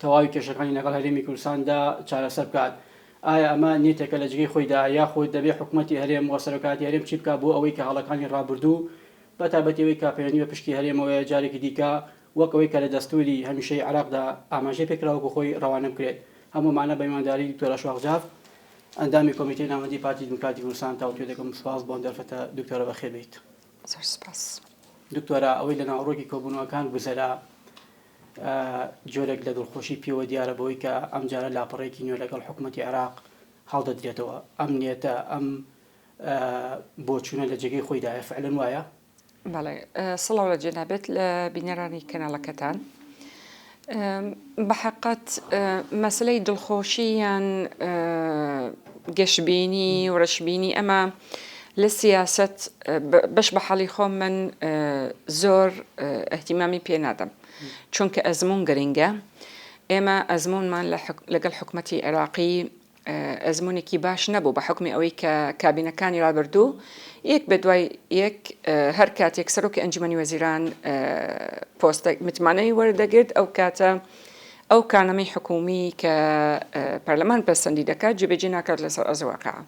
تەواوی کێشەکانی لەگەڵ هەرێمی کوردستاندا چارەسەر بکات. ئایا ئەمە نیەتێکە لە جگەی خۆیدا یاخود دەبێ حکومەتی هەرێم و سەرۆکایەتی هەرێم چی بکات بۆ ئەوەی کە هەڵەکانی ڕابوردوو بە تایبەتی ئەوەی کە پەیوەندی بە پشکی هەرێمەوەیە جارێکی دیکە وەک ئەوەی کە لە دەستوری هەمیشەیی عێراقدا ئاماژەی پێ کرا وەکو خۆی ڕەوانە بکرێت؟ هەموو ئەمانە بە میوانداری دکتۆر ئەشواق جاف ئەندامی کۆمیتەی ناوەندی پارتی دیموکراتی کوردستان تاوتوێ دەکەم سوپاس بۆ ئەم دەرفەتە دکتۆرە بەخێر بێیت. زۆر سوپاس. دکتۆرە ئەوەی لە ناوەڕۆکی کۆبوونەوەکان گوزەرا، جۆرێک لە دڵخۆشی پێوە دیارە بەوەی کە ئەمجارە لاپەڕەیەکی نوێ لەگەڵ حکومەتی عێراق هەڵدەدرێتەوە. ئەم نیەتە، ئەم بۆچوونە لە جێگەی خۆیدایە، فەعلەن وایە؟ بەڵێ. سڵاو لە جەنابت لە بینەرانی کەناڵەکەتان. بەحەقەت مەسەلەی دڵخۆشی یان گەشبینی و رەشبینی ئەمە لە سیاسەت بەش بە حاڵی خۆم من زۆر ئەهتیمامی پێ نادەم چونکە ئەزمون گرنگە ئێمە ئەزمونمان لەگەڵ حکوومەتتی عێراقی ئەزمونێکی باش نەبوو بە حکومی ئەوەی کە کابینەکانی رابردوو یەک بە دوای یەک هەر کاتێک سەرۆکی ئەنجومی وەزیران پۆستە متمانەی وەردەگرت ئەو کاتە ئەو کانەمەی حکومی کە پەرلەمان پەسەندی دەکات جێبێجی ناکات لەسەر ئەزواکە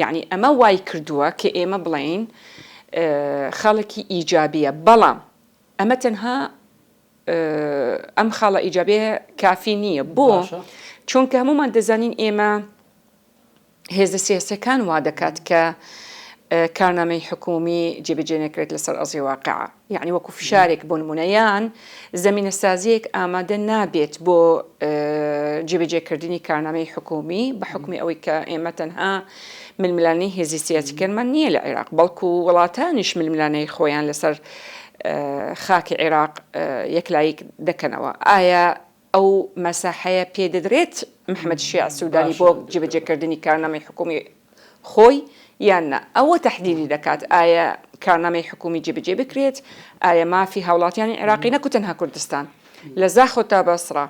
یەعنی ئەمە وایکردووە کە ئێمە بڵێین خاڵێکی ئیجابییە، بەڵام ئەمە تەنها ئەم خاڵە ئیجابێ کافی نییە بۆ چونکە هەمومان دەزانین ئێمە هێزە سیاسەکان وا دەکات کە کارنامەی حکومی جێبەجێ نەکرێت لەسەر ئەزی واقع یەعنی وەکو فشارێک بۆ نموونە یان زەمینەسازییەک ئامادە نابێت بۆ جێبەجێکردنی کارنامەی حکومی بە حکومی ئەوەی کە ئێمە تەنها ململانەی هێزی سیاسیکەرمان نییە لە عێراق بەڵکو وڵاتانیش ململانەی خۆیان لەسەر خاکی عێراق یەکلاییک دەکەنەوە ئایا ئەو مەساحەیە پێ دەدرێت محمد شیاع سودانی بۆ جێبەجێ کردنی کارنامەی حکومی خۆی یان نا ئەوە تەحدیدی دەکات ئایە کارنامەی حکومی جێبەجێ بکرێت ئایە مافی هاوڵاتیانی عێراقی نەکو تەنها کوردستان لە زاخۆ تا بەسڕا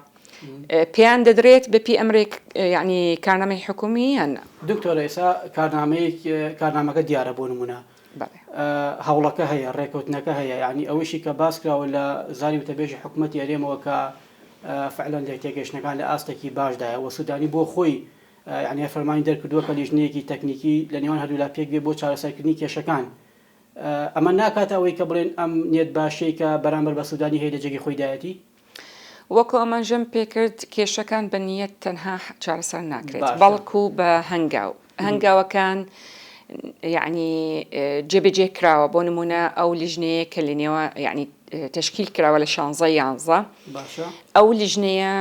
پێیان دەدرێت بەپی ئەمرێک یعنی کارنامەی حکومی یان نا. دکتۆرە ئێسا کارنامەیەک کارنامەکە دیارە بۆ نمونە هەوڵەکە هەیە ڕێکەوتنەکە هەیە یانی ئەوەشی کە باس کراوە لە زاری وتەبێژی حکوومەتی ئەرێمەوە کە فعلەن لێک تێگەشتنەکان لە ئاستێکی باشدایە و سوودانی بۆ خۆی یعنی فەرمانی دەرکردووە کە لیژنەیەکی تەکنیکی لە نێوان هەردوولا پێک بێ بۆ چارەسەرکردنی کێشەکان ئەمە ناکاتە ئەوەی کە بڵێن ئەم نیەت باشەی کە بەرامبەر بە سوودانی هەیە لە جێگەی خۆیدایەتی وەکو ئاماژەم پێکرد کێشەکان بە نیەت تەنها چارەسەر ناکرێت بەڵکو بە هەنگاو هەنگاوەکان یعنی جێبەجێ کراوە بۆ نمونە ئەو لیژنەیە کە لە نێوە یعنی تشکیل کراوە لە شانزە یانزە ئەو لیژنەیە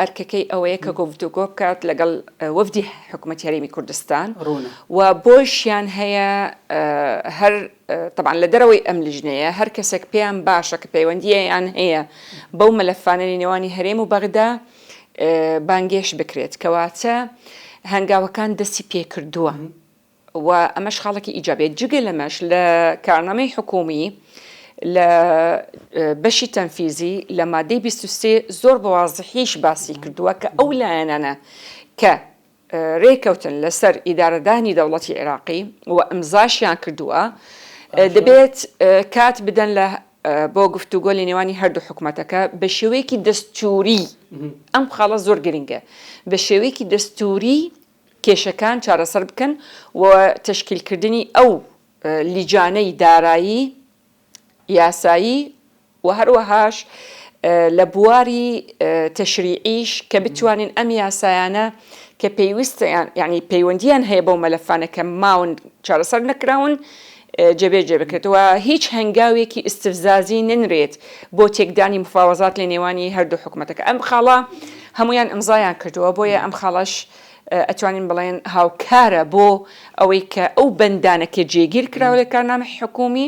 ئەرکەکەی ئەوەیە کە گفتوگۆ بکات لەگەڵ وەفدی حکوومەت هەرێمی کوردستان و بۆشیان هەیە هەر تەبعەن لە دەرەوەی ئەم لیژنەیە هەر کەسێک پێیان باشە کە پەیوەندییان هەیە بەو مەلەفانە لە نێوانی هەرێم و بەغدا بانگێشت بکرێت کەواتە هەنگاوەکان دەستی پێکردووە و ئەمەش خاڵێکی ئیجابێت جگە لەمەش لە کارنامەی حکومی لە بەشی تەنفیزی لە مادەی 23 زۆر بەوازحیش باسی کردووە کە ئەو لایەنانە کە رێککەوتن لەسەر ئیدارەدانی دەوڵەتی عێراقی و ئیمزاشیان کردووە، دەبێت کات بدەن بۆ گفتوگۆ لە نێوانی هەردوو حکومەتەکە بە شێوەیەکی دەستووری، ئەم خاڵە زۆر گرنگە، بە شێوەیەکی دەستووری کێشەکان چارەسەر بکەن و تەشکیلکردنی ئەو لیجانەی دارایی، یاسایی و هەروەهاش لە بواری تەشریعیش کە بتوانین ئەم یاسایانە کە پێویستیان یعنی پەیوەندیان هەیە بەو مەلەفانە کە ماون چارەسەر نەکراون جێبێجێ بکرێتەوە هیچ هەنگاوێکی ئیسفزازی ننرێت بۆ تێکدانی مفاوەزات لە نێوانی هەردوو حکوومەتەکە ئەم خاڵە هەمویان ئەمزایان کردووە بۆیە ئەم خاڵش ئەتوانین بڵێن هاوکارە بۆ ئەوەی کە ئەو بەندانە کە جێگیر کراوە لە کارنامەی حکوومی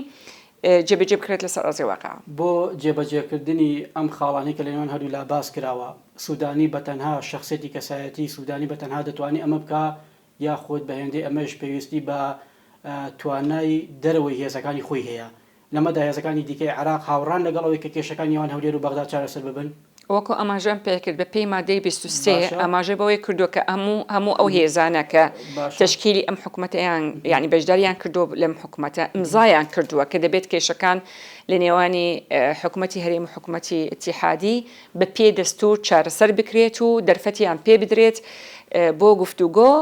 جێبەجێ بکرێت لەسەر ئەرزی واقع. بۆ جێبەجێکردنی ئەم خاڵانەی کە لە نێوان هەردوو لا باس کراوە، سوودانی بە تەنها، شەخسیەتی کەسایەتی سوودانی بە تەنها دەتوانێت ئەمە بکا یاخود بە هێندەی ئەمەش پێویستی بە توانای دەرەوەی هێزەکانی خۆی هەیە لەمەدا هێزەکانی دیکەی عێراق هاوڕان لەگەڵ ئەوەی کە کێشەکان نێوان هەولێر و بەغداد چارەسەر ببن؟ وەکو ئاماژەم پێکرد بەپێی مادەی بیست و سێ ئاماژە بەوەی کردووە کە هەموو ئەو هێزانە کە تەشکیلی ئەم حکومەتەیان یانی بەشداریان کردووە لەم حکومەتە ئیمزایان کردووە کە دەبێت کێشەکان لە نێوانی حکومەتی هەرێم و حکومەتی ئیتیحادی بەپێی دەستوور چارەسەر بکرێت و دەرفەتیان پێبدرێت بۆ گفتوگۆ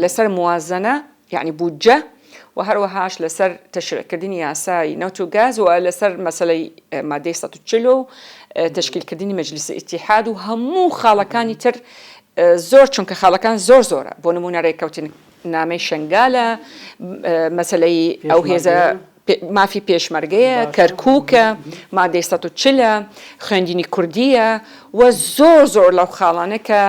لەسەر موازەنە یەعنی بودجە، و هەروەهاش لەسەر تەشریعکردنی یاسای نەوت و گاز و لەسەر مەسەلەی مادەی سەد و چل و تەشکیلکردنی مەجلیسی ئیتیحاد و هەموو خاڵەکانی تر زۆر چونکە خاڵەکان زۆر زۆرە بۆ نموونە رێککەوتنامەی شەنگالە مەسەلەی ئەو هێزە مافی پێشمەرگەیە، کەرکووکە، مادەی سەد و چل ە، خوێندنی کوردییە و زۆر زۆر لەو خاڵانە کە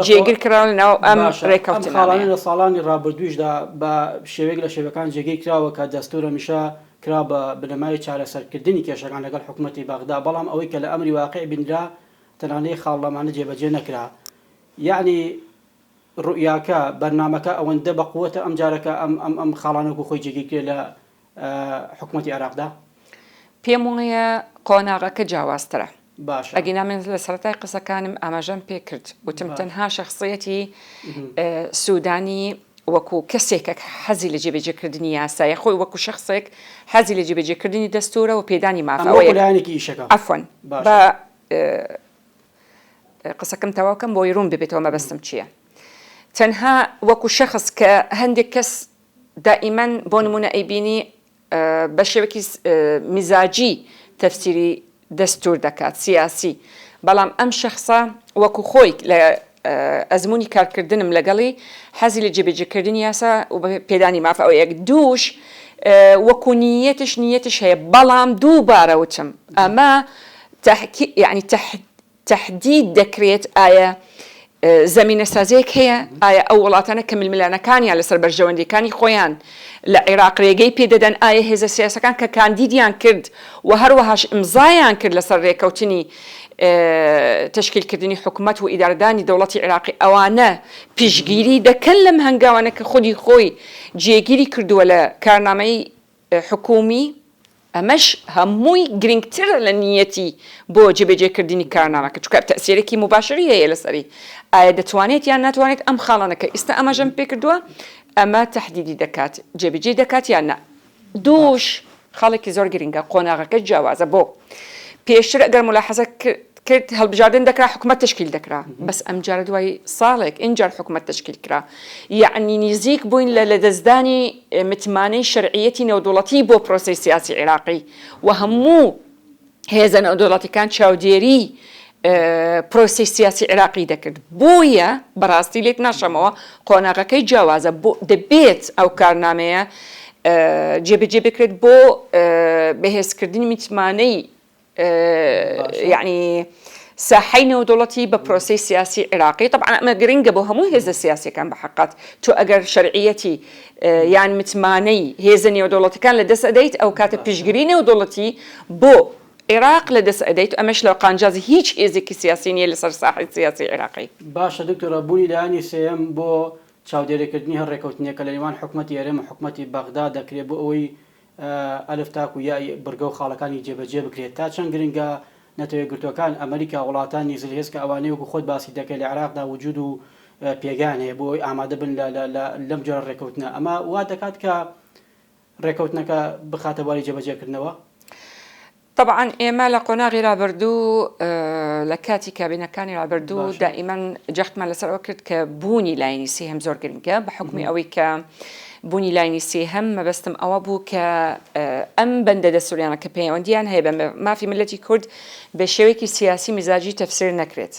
جێگر کراوە لە ناو ئەم ڕێککەوتنانەیە. ئەم خاڵانە لە ساڵانی ڕابردوویشدا بە شێوەیەک لە شێوەکان جێگیر کراوە کە دەستوور هەمیشە کرا بە بنەمای چارەسەرکردنی کێشەکان لەگەڵ حکوومەتی بەغدا، بەڵام ئەوەی کە لە ئەمری واقیع بینرا تەنانەت خاڵ لەمانە جێبەجێ نەکرا. یەعنی. ڕوئیاکە، بەرنامەکە ئەوەندە بە قوەتە ئەمجارە کە ئەم ئەم ئەم خاڵانە وەکو خۆی جێگیر کرێ لە حکومەتی عێراقدا. پێم وایە قۆناغەکە جیاوازترە. باشە. ئەگینا من لە سەرەتای قسەکانم ئاماژەم پێ کرد. وتم تەنها شەخسیەتی سودانی وەکو کەسێکە کە حەزی لە جێبەجێ کردنی یاسایە، خۆی وەکو شەخسێک حەزی لە جێبەجێ کردنی دەستورە و پێدانی مافە. ئەمە وەکو لایەنێکی ئیشەکە. عەفوەن. باشە. قسەکەم تەواو کەم بۆی ڕوون ببێتەوە مەبەستم چییە تەنها وەکو شەخص کە هەندێک کەس دائیمەن بۆ نمونە ئەیبینی بە شێوەکی مزاجی تەفسیری دەستور دەکات سیاسی بەڵام ئەم شەخصە وەکو خۆی لە ئەزمموی کارکردنم لەگەڵی حەزی لە جێبێجیکردن یاسا و پێدانی مافە ئەو یەک دووش وەکو نیەتش نیەتش هەیە بەڵام دووبارەوتم ئەمە تحکیک یەعنی تح تحدید دەکرێت ئایە زەمینە سازیەک هەیە ئایە ئەو وڵاتانە کە ململانەکانیان لەسەر بەرژەوەندیەکانی خۆیان لە عیراق رێگەی پێ دەدەن ئایە هێزە سیاسەکان کە کاندیدیان کرد و هەروەهاش ئیمزایان کرد لەسەر رێکەوتنی تشکیل کردنی حکومەت و ئیدارەدانی دەوڵەتی عیراقی ئەوانە پیشگیری دەکەن لەم هەنگاوانە کە خودی خۆی جێگیری کردووە لە کارنامەی حکوومی، ئەمەش هەمووی گرینگترە لە نییەتی بۆ جێبەجێکردنی کارنامەکە، چونکە تەئسیرێکی موباشری هەیە لەسەری، ئایا دەتوانێت یان ناتوانێت ئەم خاڵانە کە ئیستا ئاماژەم پێ کردووە، ئەمە تەحدیدی دەکات، جێبەجێی دەکات یان نا. دووش خاڵێکی زۆر گرینگە، قۆناغەکە جیاوازە، بۆ؟ پێشتر ئەگەر مولاحەزە کرد هەڵبژاردن دەکرا حکومەت تەشکیل دەکرا بەس ئەمجارە دوای ساڵێک ئینجار حکومەت تەشکیل کرا یەعنی نیزیک بووین لە لەدەستدانی متمانەی شەرعیەتی نێودوڵەتی بۆ پرۆسەی سیاسی عیراقی و هەموو هێزە نێودوڵەتیکان چاودێری پرۆسی سیاسی عێراقی دەکرد بۆیە بەڕاستی لێت ناشەمەوە قۆناغەکەی جیاوازە بۆ دەبێت ئەو کارنامەیە جێبەجێ بکرێت بۆ بەهێزکردنی میتمانەی یەعنی ساحەی نێودەوڵەتی بە پرۆسەی سیاسی عیراقی تەبعەن ئەمە گرنگە بۆ هەموو هێزە سیاسیەکان بە حەقەت تۆ ئەگەر شەرعیەتی یان متمانەی هێزە نێودەوڵەتەکان لە دەست ئەدەیت ئەو کاتە پشگری نێودەوڵەتی بۆ عێراق لە دەست ئەدەیت ئەمەش لە قانجازی هیچ هێزێکی سیاسی نیە لەسەر ساحەی سیاسی عێراقی. باشە دکتۆرە بوونی لایەنی سێیەم بۆ چاودێریکردنی هەر ڕێکەوتنێک کە لە نێوان حکومەتی هەرێم و حکومەتی بەغدا دەکرێت بۆ ئەوەی ئەلف تاکو یای بڕگە و خاڵەکانی جێبەجێ بکرێت. تا چەند گرنگە نەتەوەیەکگرتووەکان، ئەمەریکا، وڵاتانی زل هێز کە ئەوانەی وەکو خۆت باسی دەکەی لە عێراقدا وجود و پێگەیان هەیە بۆ ئەوەی ئامادە بن لەم جۆرە ڕێکەوتنە، ئەمە وا دەکات کە ڕێکەوتنەکە بخاتە بواری جێبەجێکردنەوە؟ تەبعەن ئێمە لە قۆناغی رابردوو لە کاتی کابینەکانی رابردوو دائیمەن جەختمان لەسەر ئەوە کرد کە بوونی لایەنی سێهەم زۆر گرنگە بە حکومی ئەوەی کە بوونی لایەنی سێهەم مەبەستم ئەوە بوو کە ئەم بەندە دەستوریانە کە پەیوەندییان هەیە بە مافی ملەتی کورد بە شێوەیەکی سیاسی مزاجی تەفسیر نەکرێت.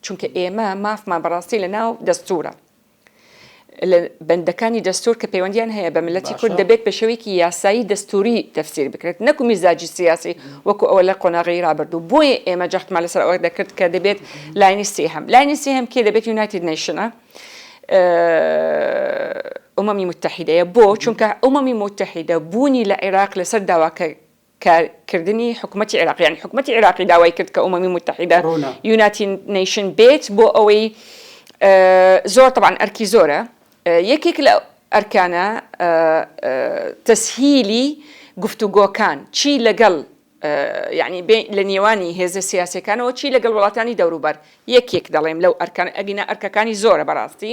چونکە ئێمە مافمان بەڕاستی لە ناو دەستورە لە بەندەکانی دەستور کە پەیوەندیان هەیە بە ملەتی کورد دەبێت بە شێوەیەکی یاسایی دەستوری تەفسیر بکرێت نەکو میزاجی سیاسی وەکو ئەوە لە قۆناغی رابردوو بۆیە ئێمە جەختمان لەسەر ئەوە دەکرد کە دەبێت لاینی سێهەم لاینی سێهەم کێ دەبێت یونایتد نەیشنە ئومەمی متحیدەیە بۆ چونکە ئومەمی متحیدە بوونی لە عێراق لەسەر داواکە کارکردنی حکومەتی عێراق یانی حکومەتی عێراقی داوای کرد کە ئومەمی موتەحیدە ڕوونە. یوناتی نەیشن بێت بۆ ئەوەی زۆر تەبعەن ئەرکی زۆرە یەکێک لە ئەرکانە تەسهیلی گفتوگۆکان چی لەگەڵ یانی بێ لە نێوانی هێزە سیاسیەکانەوە چی لەگەڵ وڵاتانی دەوروبەر یەکێک دەڵێم لەو ئەرکانە ئەگینا ئەرکەکانی زۆرە بەڕاستی.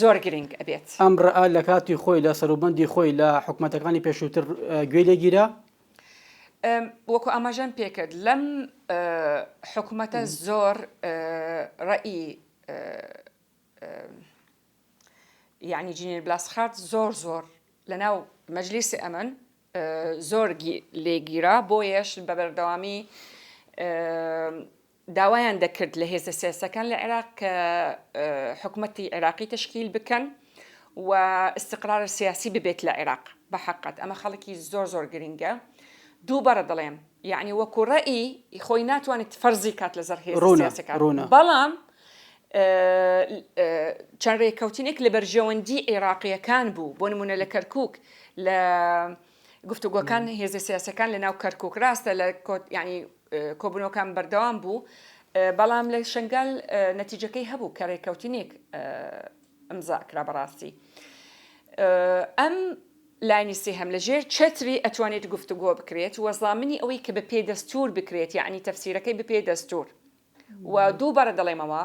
زۆر گرینگ ئەبێت. ئەم ڕەئ لە کاتی خۆی لە سەروبەندی خۆی لە حکومەتەکانی پێشووتر گوێی لێ گیرا؟ وەکو ئاماژەم پێ کرد لەم حکومەتە زۆر ڕەئی یانی جینێر بلاسخارت زۆر زۆر لەناو مەجلیسی ئەمن زۆر لێگیرا بۆیەش بە بەردەوامی داوایان دەکرد لە هێزە سیاسیەکان لە عێراق کە حکومەتی عێراقی تەشکیل بکەن و ئیستقرارە سیاسی ببێت لە عێراق بە حەقەت ئەمە خەڵکی زۆر زۆر گرنگە دوو بەڕە دەڵێم یعنی وەکو ڕەئی خۆی ناتوانێت فەرزی کات لە زەر هێز سیاسەکان ڕوونە بەڵام چەند ڕێککەوتنێک لە بەرژەوەندی عێراقیەکان بوو بۆ نمونە لە کەرکک لە گفتوگۆکان هێزە سیاسەکان لە ناو کەرکک ڕاستە لە کۆت ینی کۆبوونەوەکان بەردەوام بوو، بەڵام لە شەنگال نەتیجەکەی هەبوو کە رێککەوتنێک ئیمزا کرا بە راستی ئەم لانی سێهەم لە ژێر چەتری ئەتوانێت گفتوگۆ بکرێت و زامنی ئەوەی کە بە پێ دەستوور بکرێت یانی تەفسیرەکەی بە پێ دەستوور و دووبارە دەڵێمەوە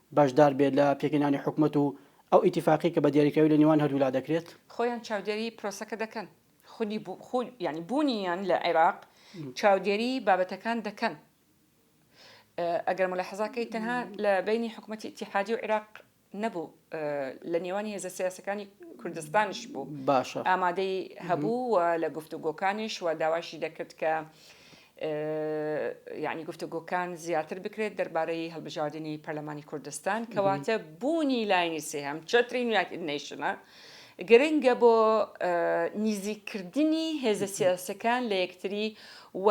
بەشدار بێت لە پێکهێنانی حکومەت و ئەو ئیتیفاقیە کە بە دیاریکراوی لە نێوان هەردوو لا دەکرێت. خۆیان چاودێری پرۆسەکە دەکەن. خودی یانی بوونیان لە عێراق چاودێری بابەتەکان دەکەن. ئەگەر مولەحەزا کەیت تەنها لە بەینی حکومەتی ئیتیحادی و عێراق نەبوو لە نێوانی هێزە سیاسەکانی کوردستانیش بوو. باشە. ئامادەی هەبوو و لە گفتوگۆکانیش و داواشی دەکرد کە یانی گفتوگۆکان زیاتر بکرێت دەربارەی هەڵبژاردنی پەرلەمانی کوردستان کەواتە بوونی لایەنی سێهەم چەتری یونایتد نەیشنە گرنگە بۆ نیزیکردنی هێزە سیاسەکان لە یەکتری و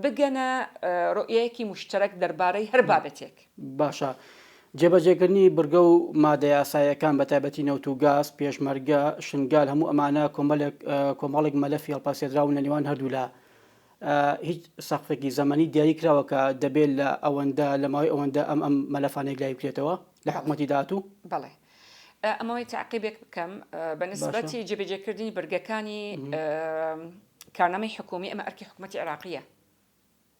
بگەنە ڕۆیەکی مشتەرەک دەربارەی هەر بابەتێک باشە. جێبەجێکردنی بڕگە و مادەیاسایەکان بە تایبەتی نەوت و گاز پێشمەرگە شنگال هەموو ئەمانە کۆمەلێک کۆمەڵێک مەلەفی هەڵپاسێدراون لە نێوان هەردوولا هیچ سەقفێکی زەمەنی دیاری کراوە کە دەبێت لە ئەوەندە لە ماوەی ئەوەندە ئەم ئەم مەلەفانێک لای بکرێتەوە لە حکوومەتی داهاتوو؟ بەڵێ. ئەمەوەی تاقیبێک بکەم بە نسبەتی جێبەجێکردنی بەرگەکانی کارنامەی حکومی ئەمە ئەرکی حکوومەتی عراقیە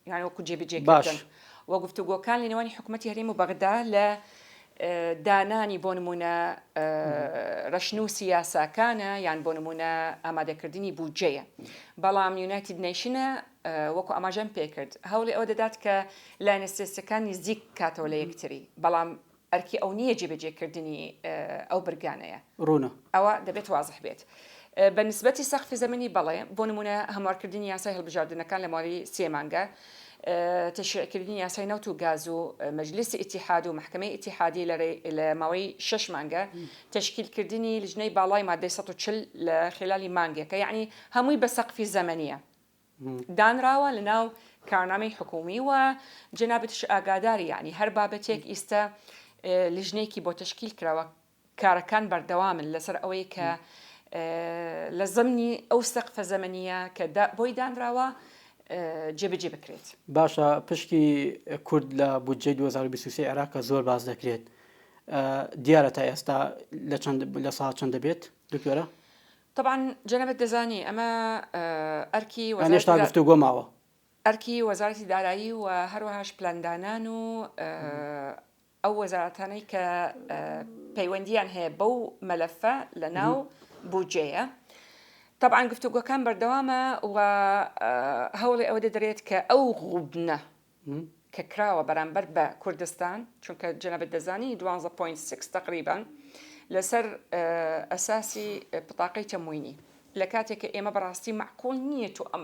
یانوەکو جێبجێ باش وە گفتوگۆکان لە نێوانی حکوومەتی هەرێم و بەغدا لە دانانی بۆ نموونە رەشنووسی یاساکانە یان بۆ نموونە ئامادەکردنی بودجەیە. بەڵام یونایتد نەیشنە وەکو ئاماژەم پێکرد هەوڵی ئەوە دەدات کە لایەنە سیاسیەکان نزیک کاتەوە لە یەکتری بەڵام ئەرکی ئەو نییە جێبەجێکردنی ئەو برگانەیە. ڕوونە. ئەوە دەبێت وازح بێت. بە نسبەتی سەقفی زەمەنی بەڵێ، بۆ نموونە هەموارکردنی یاسای هەڵبژاردنەکان لە ماوەی سێ مانگە، تەشریعکردنی یاسای نەوت و گاز و مەجلیسی ئیتیحاد و مەحکەمەی ئیتیحادی لە ماوەی شەش مانگە، تەشکیلکردنی لجنەی باڵای مادەی سەد و چل لە خیلالی مانگێکە، یەعنی هەمووی بە سەقفی زەمەنییە دانراوە لەناو کارنامەی حکوومی و جەنابتیش ئاگاداری یەعنی هەر بابەتێک ئیستە لجنەیەکی بۆ تەشکیل کراوە، کارەکان بەردەوامن لەسەر ئەوەی کە لە زەمنی ئەو سەقفە زەمەنیە کە بۆی دانراوە جێبەجێ بکرێت. باشە پشکی کورد لە بودجەی 2023 عێراق کە زۆر باس دەکرێت دیارە تا ئێستا لە چەند لە ساڵ چەند دەبێت دکتۆرە؟ طبعا جەنەبەت دەزانی ئەمە ئەرکی وەزارەت گفتو گۆ ماوە. ئەرکی وەزارەتی دارایی و هەروەهاش پلاندانان و ئەو وەزارەتانەی کە پەیوەندییان هەیە بەو مەلەفە لە ناو بودجەیە تەبعاان گفتوگۆکان بەردەوامە و هەوڵی ئەوە دەدرێت کە ئەو غوبنە کە کراوە بەرامبەر بە کوردستان چونکە جەنەبەت دەزانی 12.6 تقریبان لەسەر ئەساسی پتاقی تەموینی لە کاتێک کە ئێمە بەڕاستی معقول نییە تو ئەم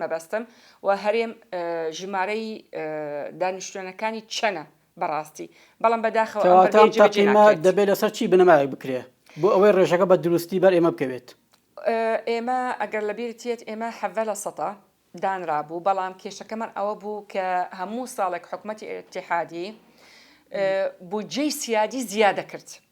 مەبەستم وە هەرێم ژمارەی دانیشتوێنەکانی چەنە بەڕاستی بەڵام بەداخەوە ئەم بەرگەی جێبەجێ ناکرێت. کەواتە تەقینە دەبێت لەسەر چی بنەمایەک بکرێ بۆ ئەوەی ڕێژەکە بە دروستی بەر ئێمە بکەوێت؟ ئێمە ئەگەر لەبیرت یەت ئێمە حەڤدە لە سەدا دانرابوو بەڵام کێشەکەمان ئەوە بوو کە هەموو ساڵێک حکومەتی ئیتیحادی بودجەی سیادی زیادە کرد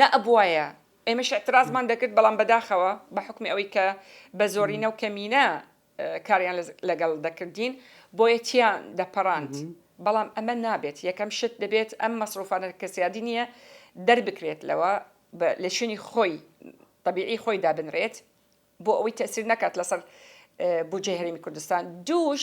نەئەبوایە ئێمەش ئیعترازمان دەکرد، بەڵام بەداخەوە بە حوکمی ئەوەی کە بە زۆرینە و کەمینە کاریان لەگەڵ دەکردین بۆیە تیان دەپەڕاند، بەڵام ئەمە نابێت، یەکەم شت دەبێت ئەم مەسروفانە کە سیادی نییە دەربکرێت لەوە لە شوێنی خۆی تەبیعی خۆی دابنرێت بۆ ئەوەی تەئسیر نەکات لەسەر بودجەی هەرێمی کوردستان، دووش.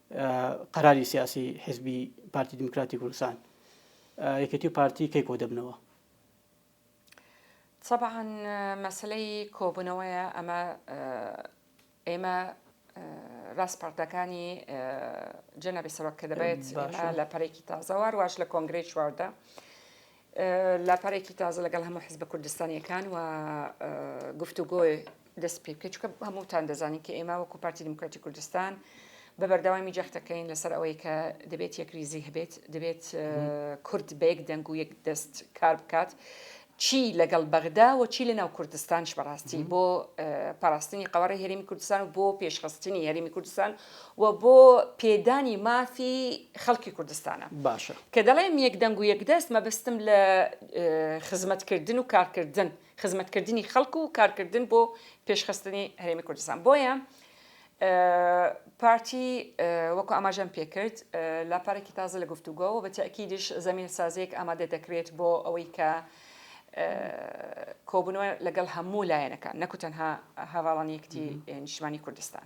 قەراری سیاسی حزبی پارتی دیموکراتی کوردستان یەکێتی و پارتی کەی کۆ دەبنەوە طبعا مەسلەی کۆبوونەوەیە ئەمە ئێمە ڕاستپەردەکانی جەنەبی سەرۆک کە دەبێت لە پەرێکی تازەوار واش لە کۆنگری چواردا لاپەڕێکی تازە لەگەڵ هەموو حزبە کوردستانیەکان و گفتوگۆ دەست پێ بکەیت چکە هەمووتان دەزانین کە ئێمە وەکو پارتی دیموکراتی کوردستان بە بەردەوامی جەختەکەین لەسەر ئەوەی کە دەبێت یەکریزی هەبێت دەبێت کورد بە یەک دەنگ و یەک دەست کار بکات چی لەگەڵ بەغدا و چی لە ناو کوردستانش بەڕاستی بۆ پاراستنی قوارە هەرمی کوردستان و بۆ پێشخستنی هەرمی کوردستان و بۆ پێدانی مافی خەڵکی کوردستانە. باشە. کە دەڵێم یەک دەنگ و یەک دەست مەبەستم لە خزمەتکردن و کارکردن، خزمەتکردنی خەڵک و کارکردن بۆ پێشخستنی هەرێمی کوردستان. بۆیە پارتی وەکو ئاماژەم پێکرد لاپەڕێکی تازە لە گفتوگۆ و بە تەئکیدیش زەمینە سازیەک ئامادە دەکرێت بۆ ئەوەی کە کۆبنەوە لەگەڵ هەموو لایەنەکان نەکو تەنها هەڤاڵانی یەکێتی نیشتمانی کوردستان.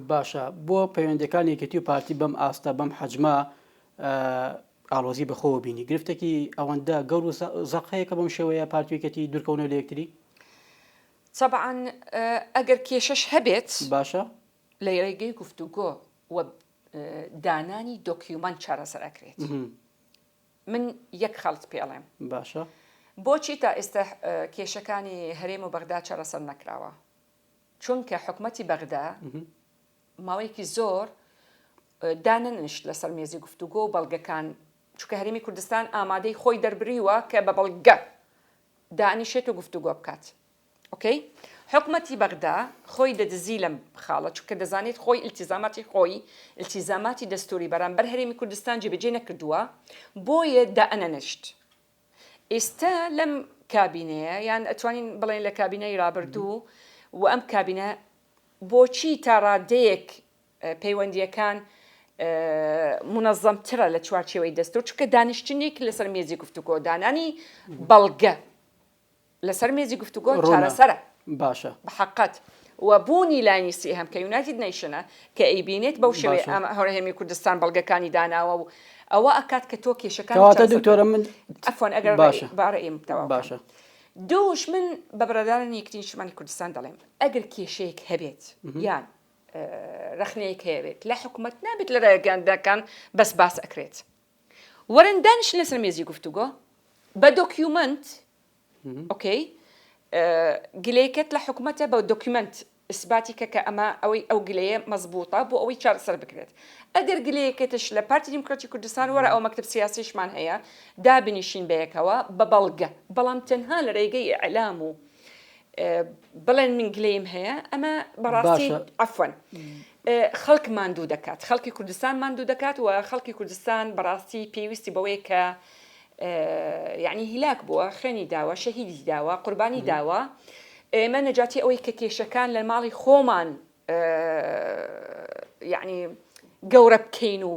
باشە بۆ پەیوەندیەکانی یەکێتی و پارتی بەم ئاستە بەم حەجمە ئالۆزی بەخۆوە بینی گرفتێکی ئەوەندە گەور و زەقەیە کە بەم شێوەیە پارتوێکەتی دوورکەونە لە یەکتری چەبعاان ئەگەر کێشەش هەبێت باشە لە ڕێگەی گفتوگۆ و دانانی دۆکیومان چارەسەر ئەکرێت من یەک خەڵت پێڵێم باشە بۆچی تا ئێستا کێشەکانی هەرێم و بەغدا چارەسەر نەکراوە چونکە حکومەتی بەغدا ماوەیەکی زۆر دانەنشت لەسەر مێزی گفتوگۆ و بەڵگەکان چونکە هەرمی کوردستان ئامادەی خۆی دەربریوە کە بە بەڵگە دانیشێت و گفتوگۆ بکات ئۆکەی حکومەتی بەغدا خۆی دەدزی لەم خاڵە چونکە دەزانێت خۆی ئیلتیزاماتی خۆی ئیلتیزاماتی دەستوری بەرامبەر هەرێمی کوردستان جێبەجێ نەکردووە بۆیە دائەنەنشت ئیستا لەم کابینەیە یان ئەتوانین بڵێین لە کابینەی رابردوو و ئەم کابینە بۆچی تا رادەیەک پەیوەندیەکان منەزەمترە لە چوارچێوەی دەستور چونکە دانیشتنیک لەسەر مێزی گفتوگۆ دانانی بەڵگە لەسەر مێزی گفتوگۆ چارەسەرە. باشە. بەحەقت. و بوونی لایەنی سێهەم کە یونایتد نەیشنە کە ئەیبینێت بەو شێوەیە باشە. ئام هەرێمی کوردستان بەڵگەکانی داناوە و ئەوە ئەکات کە تۆ کێشەکانی کەواتە چارەسەر بکەیت. دکتۆرە من. عەفوەن ئەگەر باشە. با ڕێیم تەواو بکەم. باشە. دووش من بە برادەرانی یەکێتی نیشتمانی کوردستان دەڵێم ئەگەر کێشەیەک هەبێت یان ڕەخنەیەک هەیە بێت لە حکومەت نابێت لە ڕێگەیاندنەکان بەس باس ئەکرێت. وەرن دانیشن لەسەر مێزی گفتوگۆ بە دۆکیومەنت ئۆکەی گلەیەکەت لە حکومەتە بە دۆکیومەنت ئیسباتی کە کە ئەمە ئەوەی ئەو گلەیە مەزبووتە بۆ ئەوەی چارەسەر بکرێت ئەگەر گلەیەکەتش لە پارتی دیموکراتی کوردستان وەرە ئەو مەکتب سیاسیشمان هەیە دابنیشین بەیەکەوە بە بەڵگە بەڵام تەنها لە رێگەی ئیعلام و بڵێن من گلەیم هەیە ئەمە بەڕاستی عەفوەن خەڵک ماندوو دەکات، خەڵکی کوردستان ماندوو دەکات و خەڵکی کوردستان بەڕاستی پێویستی بەوەیە کە یەعنی هیلاک بووە، خوێنی داوە، شەهیدی داوە، قوربانی داوە، ئێمە نەجاتی ئەوەی کە کێشەکان لە ماڵی خۆمان یەعنی گەورە بکەین و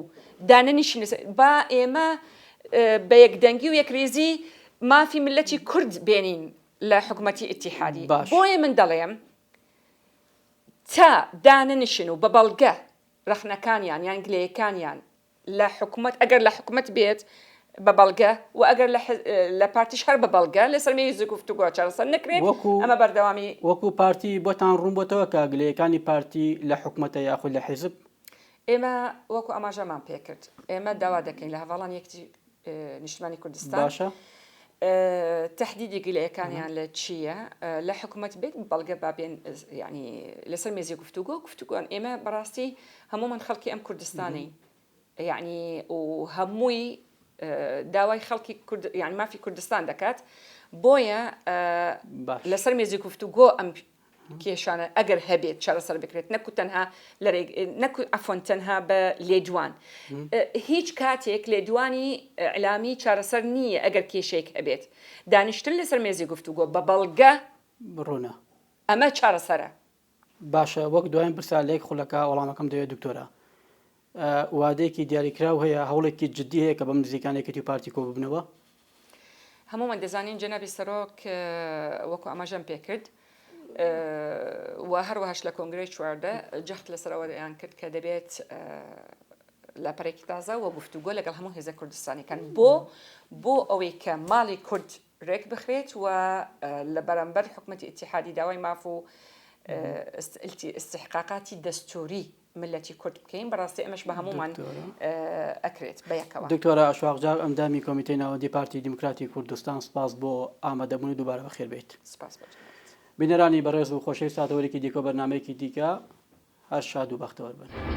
دانەنیشین لەسەر، با ئێمە بە یەکدەنگی و یەکرێزی مافی ملەتی کورد بێنین لە حکومەتی ئیتیحادی، بۆیە من دەڵێم، تا داننیشن و بە بەڵگە رەخنەکانیان یان گلەیەکانیان لە حکومەت ئەگەر لە حکومەت بێت بە بەڵگە و ئەگەر لە حیز لە پارتیش هەر بە بەڵگە لەسەر مێز گفتوگۆ چارەسەر نەکرێت وەکو ئەمە بەردەوامی وەکو پارتی بۆتان روون بۆتەوە کە گلەیەکانی پارتی لە حکومەتە یاخود لە حیزب ئێمە وەکو ئاماژەمان پێکرد ئێمە داوا دەکەین لە هەواڵان یەکتی نیشتمانی کوردستان باشە تهدیدی گلەکانیان لە چییە لە حکوومەت بێت بەڵگە بابێن ینی لەسەر مێزی گفتوگۆ گفتوگوان ئێمە بەڕاستی هەمومان خەڵکی ئەم کوردستانی یعنی و هەمووی داوای خەڵکی یان مافی کوردستان دەکات بۆیە لەسەر مێزی گفتوگۆ ئەم کێشانە ئەگەر هەبێت چارەسەر بکرێت نەکو تەنها لەرێگ نەکو عەفوەن تەنها بە لێدوان هیچ کاتێک لێدوانی ئیعلامی چارەسەر نییە ئەگەر کێشەیەک هەبێت دانیشتن لەسەر مێزی گفتوگۆ بە بەڵگە ڕوونە ئەمە چارەسەرە. باشە وەک دوایین پرسە لە یەک خولەکە وەڵامەکەم دەوێت دکتۆرە. وادەیەکی دیاریکراو هەیە، هەوڵێکی جدی هەیە کە بەم نزیکانە یەکێتی و پارتی کۆببنەوە؟ هەموومان دەزانین جەنابی سەرۆک وەکو ئاماژەم پێکرد و هەروەهاش لە کۆنگرەی چواردە جەخت لەسەر ئەوە دەیان کرد کە دەبێت لاپەرێکی تازە و گفتوگۆ لەگەڵ هەموو هێزە کوردستانەکان بۆ بۆ ئەوەی کە ماڵی کورد رێک بخرێت و لە بەرامبەر حکوومەتی ئتیحادی داوای ماف و استحقاقاتی دەستوری ملەتی کورد بکەین بەڕاستی ئەمەش بە هەموومان ئەکرێت بەیەکەوە دکتۆرە ئەشواقجار ئەندامی کۆمیتەی ناوەندی پارتی دیموکراتی کوردستان سپاس بۆ ئامادەبوونی دووبارە بەخێر بێیت سپاس بینەرانی بەڕێز و خۆشەویست ساتەوەرێکی دیکۆ بەرنمەیەکی دیکە هەر شاد و بەختەوەر بن.